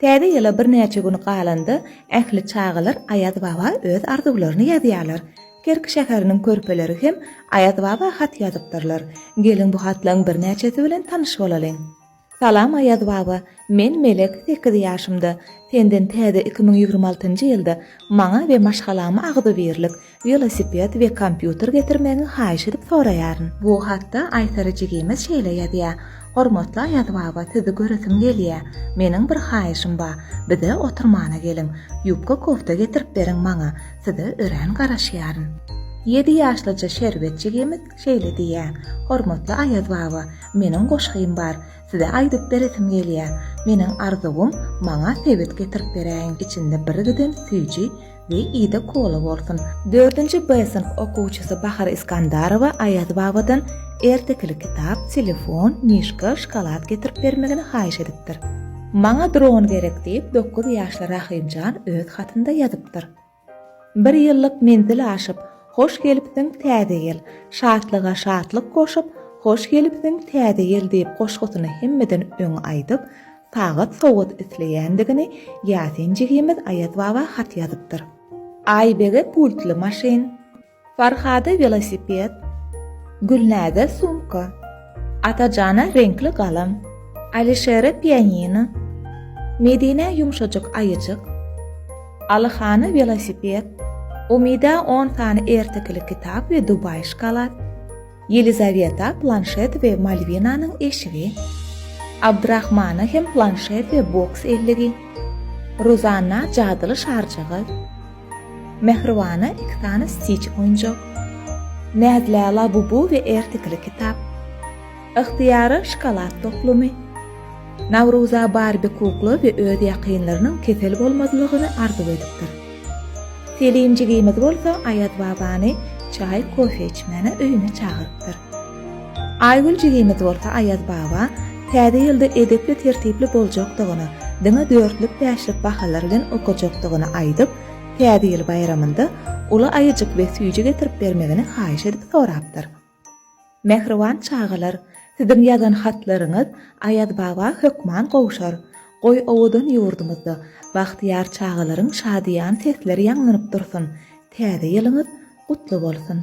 Täze ýyla birnäçe gün galanda ähli çagalar Aýaz baba öz arzuwlaryny ýazýarlar. Kerki şäheriniň körpeleri hem Aýaz baba hat ýazypdyrlar. Geliň bu hatlaň birnäçesi bilen tanyş bolalyň. Salam Aýaz baba, men Melek sekiz ýaşymda, senden täze iki müň ýigrimi altynjy ýylda maňa we maşgalama agzybirlik, Welosiped we kompýuter getirmegiňi haýyş edip soraýaryn. Bu hatda Aýsary jigimiz şeýle ýazýar, Hormatly Aýaz baba sizi göresim gelýär. Meniň bir haýyşym ba, bize oturmana geliň. Ýubka kofta getirip beriň maňa. Size örän garaşýaryn. Ýedi ýaşlyja Şerbet jigimiz şeýle diýýär, Hormatly Aýaz baba, meniň goşgym bar. Size aýdyp beresim gelýär. Meniň arzuwym, maňa sebet getirip beräýiň içinde bir giden süýji, we Ida Kola bolsun. Dördünji B synp okuwçysy Bahar Iskandarowa Aýaz babadan ertekili kitap, telefon, mişka, şokolad getirip bermegini haýyş edipdir. Maňa dron gerek diýip, dokuz ýaşly Rahymjan öz hatynda ýazypdyr. Bir ýyllyk menzil aşyp, Hoş gelipsiň, täze ýyl! Şatlyga şatlyk goşup, Hoş gelipsiň, täze ýyl! diýip goşgusyny hemmeden öň aýdyp, Sagat sowgat isleýändigini Ýasin jigimiz Aýaz baba hat ýazypdyr. Aýbege pultly maşyn. Farhada welosiped. Gülnäze sumka. Atajana reňkli galam. Alişere pianino. Medinä ýumşajyk aýyjyk. Alyhana welosiped. Umida on sany ertekili kitap we dubaý şkalad. Ýelizaweta planşet we Malwinanyň eşigi, Abdrahmana hem planşet we boks elligi, Ruzanna jadyly şarjygy, Mähribana iki sany stiç oýunjak, Näzlä Labubu we ertekili kitap, Yhtyýara şokolad toplumy, Nawruza Barbi kukla we öz ýakynlarynyň kesel bolmazlygyny arzuw edipdir. Selim jigimiz bolsa Aýaz babany çaý, kofe içmäne öýüne çagyrypdyr. Aýgül jigimiz bolsa Aýaz baba Täze ýylda edepli-tertipli boljakdygyny, diňe dörtlük-bäşlik bahalar bilen okajakdygyny aýdyp, Täze ýyl baýramynda uly aýajyk we süýji getirip bermegini haýyş edip sorapdyr. Mähriban çagalar, siziň ýazan hatlaryňyz Aýaz baba hökman gowşar. Goý owadan ýurdumyzda bagtyýar çagalaryň şadyýan sesleri ýaňlanyp dursun. Täze ýylyňyz gutly bolsun!